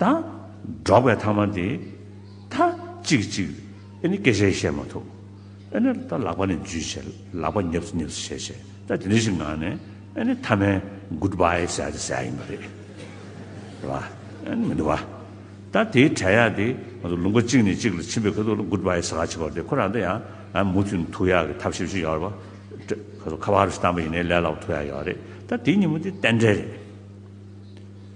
དང། འགྲོགས་པའི་ཐ་མ་དེ། ཐ། ཅིག་གཅིག། ཨེ་ནི་སྐད་ཆའི་བཤད་མ་ཐུབ། ཨེ་ནི། ད་ལག་པ་ནས་འཇུས་བྱས། ལག་པ་ཉབས་སུ་ཉབས་སུ་བྱས་བྱས། ད་དེ་འདྲ་ཞིག་ངང་ནས། ཨེ་ནི་ཐ་མའི། Good bye། ཟེར་ཡག་དེ་ཟེར་ཡག་ཡིན་པ་རེད། རེད་བ། ཨེ་ནི་མི་འདུག་བ། ད་དེའི་བྲལ་ཡག་དེ། ང་ཚོ་ལུང་པ་གཅིག་ནས་གཅིག་ལ་ཕྱིན་པའི་ཁ་ཐུག་ལ Good bye ཟེར་ཡག་བྱེད་པ་དེ་ཁོ་རང་ད་ཡང། ཨ་མུ་མཐུད་ནས་ཐུག་ཡག་གི་ཐབས་ཤེས་བྱེད་ཡག་རེད་བ། ཁ་བ་རུ་ཞིག་བཏང་པ་ཡིན་ནའི་ལས་སླ་བོ་ཐུག་ཡག་ཡོད་རེད། ད་དེའི་ཉིན་མོ་དེ་གཏན་བྲལ་རེད།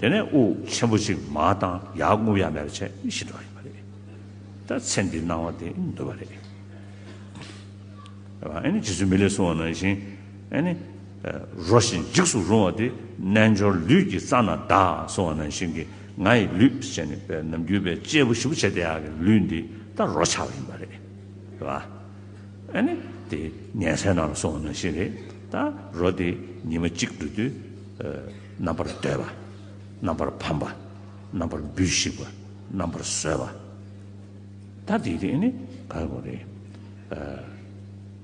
དེ་ནས་དབུགས་ཆེན་པོ་གཅིག་མ་དང་ཡར་རྔུབ་ཡར་མེད་པ་བྱས་ཤི་འགྲོ་བ་ཡིན་པ་རེད། ད་ཚེ་འདིའི་སྣང་བ་དེ་འདུལ་བ་རེད། ཨ་ནི་རྗེ་བཙུན་མི་ལས་སྲུང་བ་ནང་བཞིན་ཨ་ནི། རོ་བཞིན་འཇིགས་སུ་རུང་བ་དེ་རྣལ་འབྱོར་ལུས་ཀྱི་རྩ་ན་བདག་སྲུང་བ་ནང་བཞིན་གྱི་ང་ཡི་ལུས་ཅན་ནི་པད་ནམ་རྒྱུད་པའི་སྐྱེས་བུ་བཞི་པོ་བྱེད་དེ་ཡག་གི་ལུས་འདི་ད་རོ་ཆགས་པ་ཡིན་པ་རེད། ཨ་ནི། དེ་ཉལ་སའི་ནང་ལ་སྲུང་བ་ནང་བཞིན་རེད། ད་རོ་དེ་ཉི་མ་གཅིག་འགྲོ་དུས། རྣམ་པར་བསྟོད་པ། རྣམ་པར་ཕམ་པ། རྣམ་པར་འབུས་ཤིག་པ། རྣམ་པར་གསོལ་བ། ད་དེ་དེ་ནི་ག་རེ་གོ་རེ།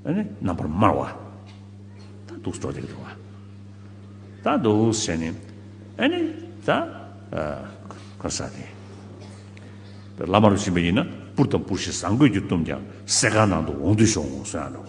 ཨཱ་ནི་རྣམ་པར་སྨྲ་བ། ད་དུག་སྤྲོ་བསྡིགས་འགྲོ་བ། ད་དུག་ཟེར་ནི་ཨཱ་ནི་ད་ག་ས་དེ། བླ་མ་རུ་ཕྱིན་པ་ཡིན་ན་པུར་དང་པུར་ཞིག་བཟང་གོས་ཀྱིས་བཏུམས་ཀྱང་གསེར་ཁང་ནང་དུ་འོང་དུས་ཤོག་འོང་གསོལ་ཡང་འགྲོ།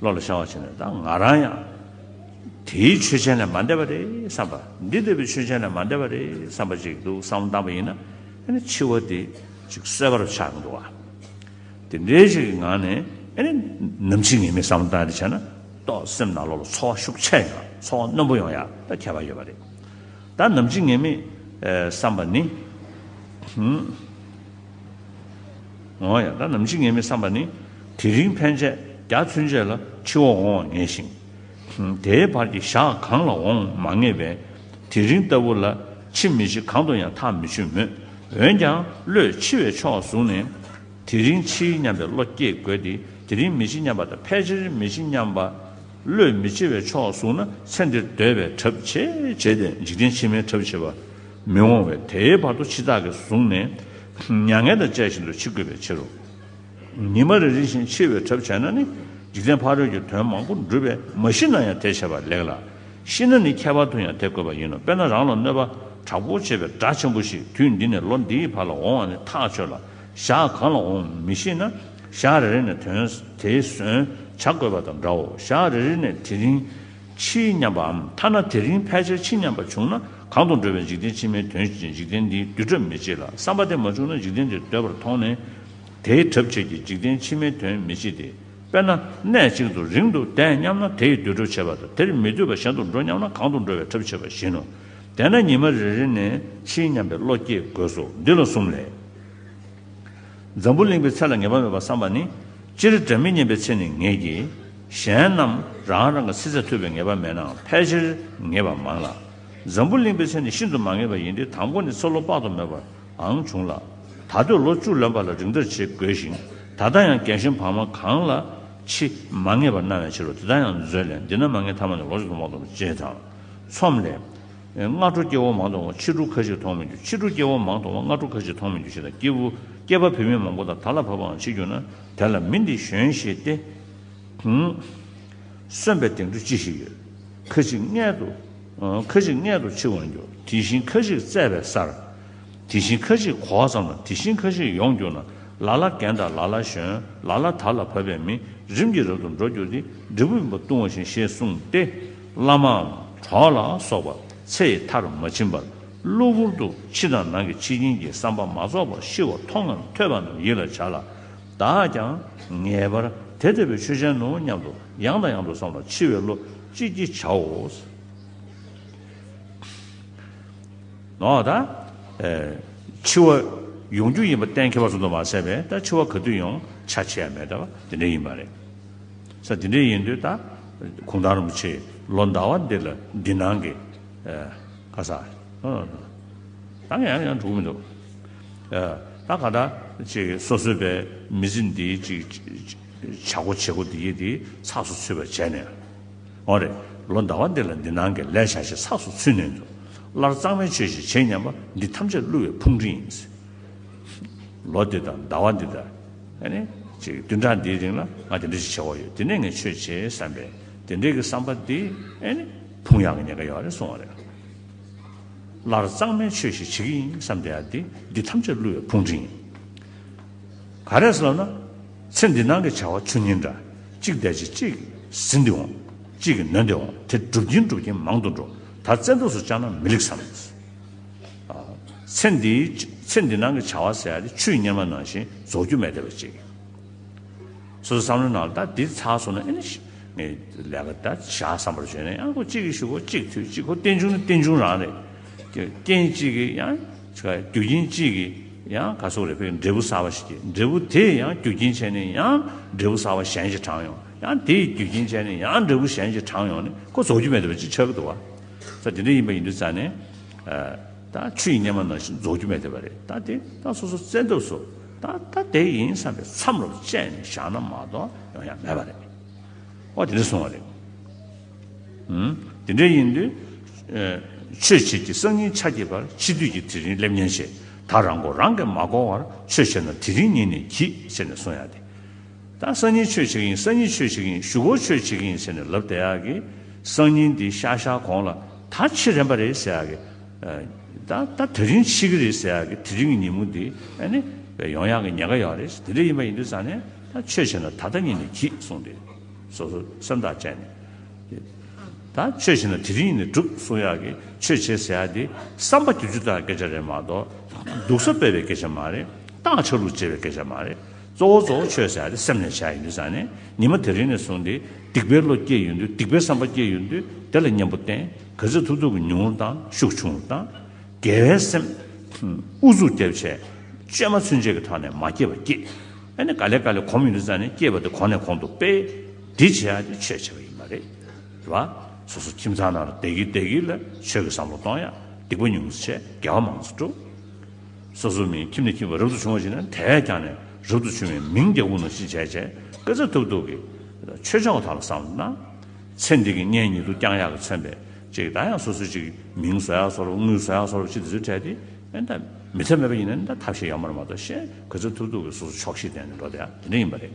བློ་ལ་བྱང་བ་བྱས་ནས་ད་ང་རང་ཡང། དེའི་ཆོས་ཅན་ལས་མ་འདས་པ་རེད་བསམ་པ། འདི་ལྟ་བུའི་ཆོས་ཅན་ལས་མ་འདས་པ་རེད་བསམ་པ་ཅིག་འདུག་བསམ་བློ་བཏང་བ་ཡིན་ན། ཨེ་ནི་འཆི་བ་དེ་ཅིག་གསོད་པར་ཆགས་ཀྱི་འདུག་ཨ། དེ་འདྲའི་ཞིག་གི་ངང་ནས་ཨེ་ནི། ནམ་འཆི་ངེས་མེད་བསམ་བློ་བཏང་སྟེ་བྱས་ན། ཏོག་སེམས་ནག་ལོག་ལ་འཚོ་བ་ཤུགས་ཆེ་ཡང་འཚོ་བ་རྣོན་པོ་ཡོང་ཡ་ད་ཁྱད་པར་ཡོད་པ་རེད། ད་ནམ་འཆི་ངེས་མེད་བསམ་པ་ནི། འོང་ཡང་ད་ནམ་འཆི་ངེས་མི་བསམ་པ་ནི། དེ་རིང་ཕན་ཆད་རྒྱ་མཚོན་ཆད་ལ་ཕྱི་འོག་འོང་བ་ངེས་ཤིང། དེའི་བར་གྱི་ཞག་གང་ལ་འོང་མ་ངེས་པས། དེ་རིང་ལྟ་བུ་ལ་འཆི་མི་འཆི་གང་དུ་ཡང་ཐག་མི་ཆོད་མོད། འོན་ཀྱང་བློས་འཆི་བའི་ཕྱོགས་བཟུང་ནས། དེ་རིང་འཆི་སྙམ་པའི་བློ་སྐྱེ་དགོས་ཏེ་དེ་རིང་མི་འཆི་སྙམ་པ་དང་ཕལ་ཆེར་མི་འཆི་སྙམ་པ། བློས་མི་འཆི་བའི་ཕྱོགས་བཟུང་ན་ཚེ་འདིར་འདོད་པའི་གྲབས་བྱེད་བྱས་ཏེ་འཇིག་རྟེན་ཕྱི་མའི་གྲབས་བྱེད་པ། མི་འོང་བས་དེའི་བར་དུ་འཆི་བདག་གིས་བཟུང་ནས་མྱ་ངན་དང་བཅས་ཤིན་ཏུ་འཆི་དགོས་པའི་ཕྱིར་རོ། ཉི་མ་རེ་རེ་བཞིན་འཆི་བའི་གྲབས་བྱས་ན་ནི་འཇིག་རྟེན་ཕ་རོལ་གྱི་དོན་མང་པོ་འགྲུབ་པས་མ་ཤི་ན་ཡང་དེ་བྱས་པ་ལེགས་ལ། ཤི་ན་ནི་ཁྱད་པར་དུ་ཡང་དེ་དགོས་པ་ཡིན་ནོ་དཔེར་ན་རང་ལ་གནོད་པ་དྲག་པོ་བྱེད་པའི་དགྲ་ཆེན་པོ་ཞིག་དུས་འདི་ནས་ལོ་འདིའི་བར་ལ་འོང་བ་ནི་ཐག་ཆོད་ལ། ཞག་གང་ལ་འོང་མི་ཤེས་ན་ཞག་རེ་རེ་ནས་དོན་དེ་ཟོན་བྱ་དགོས་པ་དང་འདྲའོ་ཞག་རེ་རེ་ནས་དེ་རིང། ཕྱིའི་མཉམ་པའམ་ཐ་ན་དེ་རིང་ཕལ་ཆེར་ཕྱི་མཉམ་པ་བྱུང་ན་གང་དུ་འགྲོ་བའི་འཇིག་རྟེན་ཕྱི་མའི་དོན་བྱེད་ཅིང་འཇིག་རྟེན་འདིའི་བསྡུས་གྲབས་མི་བྱེད་ལ་བསམ་པ་དེ་མ་བྱུང་ན་འཇིག་རྟེན་དེ་འདོད་པར་མཐོང་ནས། དེའི་གྲབས་བྱེད་ཀྱི་འཇིག་རྟེན་ཕྱི་མའི་དོན་མི་བྱེད་དེ། དཔེར་ན། གནས་གཅིག་ཏུ་རིང་དུ་བསྡད་སྙམ་ན་དེའི་བསྡུས་གྲབས་བྱེད་པ་དང་དེར་མི་སྡོད་པར་གཞན་དུ་འགྲོ་སྙམ་ན་གང་དུ་འགྲོ་བའི་གྲབས་བྱེད་པ་བཞིན་ནོ། དེས་ན་ཉི་མ་རེ་རེ་ནས་ཕྱིའི་མཉམ་པའི་བློ་སྐྱེ་དགོས་སོ། འདི་ལ་གསུམ་ལས། འཛམ་བུ་གླིང་པའི་ཚེ་ལ་ངེས་པ་མེད་པར་བསམ་པ་ནི། སྤྱིར་སྒྲ་མི་སྙན་པའི་ཚེ་ནི་ངེས་ཀྱི། གཞན་རྣམས་རང་རང་གི་སྲིད་རྩེར་ཐུབ་པའི་ངེས་པ་མེད་ནའང་ཕལ་ཆེར་ངེས་པ་མང་ལ། འཛམ་བུ་གླིང་པའི་ཚེ་ནི་ཤིན་ཏུ་མ་ངེས་པ་ཡིན་ཏེ་དང་པོ་ནི་ཚེ་ལོ་དཔག་ཏུ་མེད་པའང་བྱུང་ལ། ད་གདོད་ལོ་བཅུ་ལོན་པ་ལ་རིགས་འདྲ་བྱེད་དགོས་ཤིང་ད་ལྟ་ཡང་རྒན་གཞོན་བག་མ་གང་ལ་འཆི་མ་ངེས་པར་སྣང་བའི་ཕྱིར་རོ་དེ་ལྟར་ཡང་མཛོད་ལས་འདི་ན་མ་ངེས་ཐ་མ་ནི་ལོ་བཅུ་ལྷག་མ་ཐོབ་བྱེད་དང། ཚོམས་ལས། སྔ་དྲོ་སྐྱེ་བོ་མང་དུ་འོང་བ་ཕྱི་དྲོ་ཁ་ཅིག་མཐོང་མི་འགྱུར་ཕྱི་དྲོ་སྐྱེ་བོ་མང་དུ་འོང་བ་སྔ་དྲོ་ཁ་ཅིག་མཐོང་མི་འགྱུར་ཞེས་དང་སྐྱེས་བུ་སྐྱེས་པ་བུད་མེད་མང་པོ་དང་དར་ལ་བབ་པའང་མཆིས་གྱུར་ན་དེ་ལ་མི་འདི་གཞོན་ཞེས་ཏེ། གསོན་པའི་སྟེང་དུ་ཅི་ཞིག་ཡོད། ཁ་ཅིག་མངལ་དུ། ཁ་ཅིག་མངལ་དུ་འཆི་བར་འགྱུར་དེ་བཞིན་ཁ་ཅིག་བཙས་པའི་སར། དེ་བཞིན་ཁ་ཅིག་གོ་བ་ཙམ་ན་དེ་བཞིན་ཁ་ཅིག་ཡོང་གྱུར་ན་ལ་ལ་རྒན་དང་ལ་ལ་གཞོན་ལ་ལ་དར་ལ་བབ་པའི་མི་རིམ་གྱིས་རབ་ཏུ་འགྲོ་གྱུར་ཏེ་འབྲས་བུ་བུམ་པ་བཏུང་བ་བཞིན་ཞེས་གསུངས་ཏེ། བླ་མའམ་གྲོགས་ལ་སོགས་པ་ཚེ་ཡི་མཐར་མ་ཕྱིན་པར་གློ་བུར་དུ་ཕྱི་དང་ནང་གི་འཆི་རྐྱེན་གྱི་བསམ་པ་མ་རྫོགས་པར་ཤི་བ་མཐོང་ངམ་ཐོས་པ་རྣམས་ཡིད་ལ་བྱ་ལ། བདག་ཀྱང་ངེས་པར་དེ་ཐོས་པའི་ཆོས་ཅན་ནོ་སྙམ་དུ་ཡང་དང་ཡང་དུ་བསམ་ལ་འཆི་བའི་བློ་ཅི་བགྱི་བྱའོ། ནོ། ད་འཆི་བ་ཡོང་རྒྱུ་ཡིན་པ་གཏན་འཁེལ་བ་ཙམ་དུ་མ་ཟད་པས་ད་འཆི་བ་ག་དུས་ཡོང་བྱ་བྱེད་ཡ་མེད་ད་བ་དེ་འདྲ་ཡིན་པ་རེད། ས་འདི་འདྲའི་ཡིན་དུས་ད། གུང་ཐང་རིན་པོ་ཆེས་ལོ་ཟླ་བ་འདི་ལ་འདི་སྣང་གི། ཁ་ས། ད་ངས་ཡང་ཡང་འགྲོ་གི་མི་འདུག། ད་ག་ད་ཅིག་སོ་སོའི་པའི་མི་ཚེ་འདིའི་ཅིག། བྱ་སྒོ་བྱེད་སྒོ་འདི་འདི་ཚགས་སུ་ཚུད་པར་བྱས་ནས། འོ་རེད། ལོ་ཟླ་བ་འདི་ལ་འདི་སྣང་གི་ལས་བྱ་ཞིག་ཚགས་སུ་ཚུད་ནས་འདུག་སླར་གཙང་མའི་ཆོས་ཤིག་བྱེད་སྙམ་པ་འདི་ཐམས་ཅད་བསླུ་བའི་ཕུང་ཁྲི་ཡིན། ལོ་འདི་དང་ཟླ་བ་འདི་དང། བདུན་ཕྲག་འདིའི་རིང་ལ་ང་དེ་འདྲ་ཞིག་བྱེད་དགོས་ཡོད་དེ་ནས་ངས་ཆོས་བྱེད་བསམ་པས་དེ་འདྲའི་གི་བསམ་པ་འདི། ཕུང་ཡག་གི་ཉེན་ཁ་ཡོད་རེད་གསུང་བ་རེད། སླར་གཙང་མའི་ཆོས་ཞིག་བྱེད་གི་ཡིན་བསམ་དེ་ཡག་འདི་འདི་ཐམས་ཅད་བསླུ་བའི་ཕུང་འཕྲིན་ཡིན། ག་རེ་ཟེར་ལབ་ན། ཚེ་འདི་སྣང་གི་བྱ་བ་ཆུ་གཉིས་འདྲ། གཅིག་འདས་རྗེས་གཅིག་ཟིན་འདི་འོང། གཅིག་གི་ནོན་འདི་འོང་དེ་འགྲུབ་ཀྱིན་འགྲུབ་ཀྱིན་མང་དུ་འགྲོ། ད་བཙན་དུགས་སུ་བཅངས་ན་མི་ལེགས་བསམ། ཚེ་འདིའི་ཚེ་འདི་སྣང་གི་བྱ་བ་ཟད་དེ་ཆུའི་གཉེར་མ་ནང་བཞིན་རྫོགས་རྒྱུ་མེད་བདེ་བར་གཅིག། སོ་སོ་བསམ་བློའི་ནང་ལ་ད་འདི་ཚར་སོང་ན་ཨེ་ནས་ངས་ལས་ཀ་ད་བྱ་བསམ་པར་བྱོས་ནས་ཡང་ཁོ་གཅིག་གིས་ཞུ་ཁོ་གཅིག་ཐོས་གཅིག་ཁོ་རྟེན་འབྱུང་ན་རྟེན་འབྱུང་རང་རེད། རྐྱེན་གཅིག་གིས་ཡང་རྒྱུ་རྐྱེན་གཅིག་གིས་ཡང་ག་སོག་རེད་ཕེབས་འབྲས་བུ་གསར་བ་ཞིག་སྐྱེས་འབྲས་བུ་དེས་ཡང་རྒྱུ་རྐྱེན་བྱས་ནས་ཡང་འབྲས་བུ་གསར་བ་གཞན་ཞིག་དྲངས་ཡོང་ཡང་དེས་རྒྱུ་རྐྱེན་བྱས་ནས་ཡང་འབྲས་བུ་གཞན་ཞིག་དྲངས་ཡོང་ནས་ཁོ་རྫོགས་རྒྱུ་མེད་བདེ་བར་གཅིག་ཆགས་ཀྱི་འདུག་བ། ས་འདི་འདྲ་ཡིན་པ་ཡིན་དུས་ཙཱ་ནས། ད་ཆུ་ཡི་སྙེ་མ་ན་བཞིན་རྫོགས་རྒྱུ་མེད་བསྡད་པ་རེད་ད་དེ་ད་སོ་སོ་བཙན་ཐབས་སུ་ད་ད་དེ་ཡིན་བསམ་པའི་མཚམས་རོབ་བཅད་ནས་བཞག་ན་མ་གཏོགས་ཡོང་ཡ་མེད་པ་རེད། ཨོ་དེ་འདྲ་སོང་བ་རེད། ཨུམ། དེ་འདྲ་ཡིན་དུས། ཆོས་བྱེད་ཀྱི་སང་ཉིན་ཆ་གྱེས་པར་ཕྱི་དུས་ཀྱི་དེ་རིང་སླེབས་ཉེན་ཆེ་ད་རང་མགོ་རང་གིས་མ་སྐོར་བར་ཆོས་བྱས་ན་དེ་རིང་ཉིན་ནས་གྱིས་ཟེར་ནས་སོང་ཡ་དེ། ད་སང་ཉིན་ཆོས་བྱེད་ཀྱི་ཡིན་སང་ཉིན་ཆོས་བྱེད་ཀྱི་ཡིན་བཞུགས་སྒོར་ཆོས་བྱེད་ཀྱི་ཡིན་ཟེར་ནས་ལབ་བསྡད་ཡག་གི། སང་ཉིན་འདི་ཤག་ཤག་གོང་ལ་ད་ཕྱི་རན་པ་རེད་ཟེར་ཡག་གི། ད་ད་དེ་རིང་ཕྱི་གི་རེད་ཟེར་ཡག་གི་དེ་རིང་གི་ཉིན་མོ་འདི་ཨ་ནི་བས་ཡོང་ཡག་གི་ཉེན་ཁ་ཡོད་རེད་དེ་འདྲ་ཡིན་པ་ཡིན་དུས་ཟ་ནས་ད་ཆོས་བྱེད་ན་ད་ལྟ་ཉིན་ནས་གྱིས་གསུངས་ཏེ། སོ་སོ་སེམས་ཐག་བཅད་ནས། ད་ཆོས་བྱེད་ན་དེ་རིང་ཉིན་ནས་གྲུབ་གསུངས་ཡག་གི་ཆོས་བྱེད་ཟེར་ཡག་འདི་བསམ་པ་བསྒྱུར་རྒྱུ་ལྟར་སྐད་ཆ་རེད་མ་གཏོགས་ད་སྡུག་ས་སྤེལ་བའི་སྐད་ཆ་མ་རེད་སྟག་ཆགས་ལུག་འཇལ་བའི་སྐད་ཆ་མ་རེད། གཙོ་བོ་གཙོ་བོ་ཆོས་བྱ་སྟེ་སེམས་ལས་བྱ་ཡིན་དུས་སང་ནས་ཉི་མ་དེ་རིང་ནས་བཟུང་སྟེ་སྡིག་པའི་བློ་སྐྱེས་ཡོང་དུས་སྡིག་པའི་བསམ་པ་སྐྱེས་ཡོང་དུས་དེ་ལ་གཉེན་པོ་བསྟེན་གལ་ཚིག་ཐུབ་ཐུབ་ཀྱི་ཉུང་ངུ་དང་ཤུགས་ཆུང་ངུ་དང། དགེ་བའི་སེམས། ཨུ་ཚུགས་སྐྱེ་བྱས། བཅོས་མ་ཚུན་ཆད་ཀྱི་ཐོག་ནས་མ་སྐྱེས་པ་སྐྱེས། ཨ་ནི་ག་ལེ་ག་ལེ་གོམས་ཡོང་དུས་སང་ནས་སྐྱེས་པ་དེ་གོང་ནས་གོང་དུ་སྤེལ། འདི་བྱས་ཡག་འདི་ཆོས་བྱས་པ་ཡིན་པ་རེད། རེད་བ། སོ་སོ་ཁྱིམ་ཚང་ནང་ལ་བདེ་སྐྱིད་བདེ་སྐྱིད་ལ་ཆོས་ཀྱི་བསམ་བློ་གཏོང་ཡག་སྡིག་པ་ཉུང་ངུ་བྱས་དགེ་བ་མང་ཚོགས་སྒྲུབ། སོ་སོ་མིའི་ཁྱིམ་ནས་ཁྱིམ་བར་རབ་ཏུ་བྱུང་བ་ཞིག་ན་དེས་ཀྱང་ནས་རབ་ཏུ་བྱུང་བའི་མིང་རྒྱལ་པོ་ནོ་ཞེས་བྱའི་བྱའི་དཔེ་ཚ་ཐུབ་ཐུབ་ཀྱི་ཆོས་བྱ་བ་དག་ལ་བསམས་ན། ཚེ་འདི་གི་གཉེན་ཉེ་དུ་རྐྱང་ཡག་གི་མཚོན་པས་ཅིག་ད་ཡང་སོ་སོའི་ཅིག་མིང་བཟོ་ཡག་བཟོ་རོགས་དངུལ་བཟོ་ཡག་བཟོ་རོགས་ཅིག་དེ་ཚོའི་གྲས་དེ་ད་མི་ཚད་མེད་པ་ཡིན་ན་ད་ཐབས་ཤེས་ཡག་མོ་རེ་མ་གཏོགས་གཞན་གོས་ཚ་ཐུབ་ཐུབ་ཀྱི་སོ་སོ་ཆོག་ཤེས་ལྡན་ནས་འགྲོ་དེ་ཡང་དེ་འདྲ་ཡིན་པ་རེད།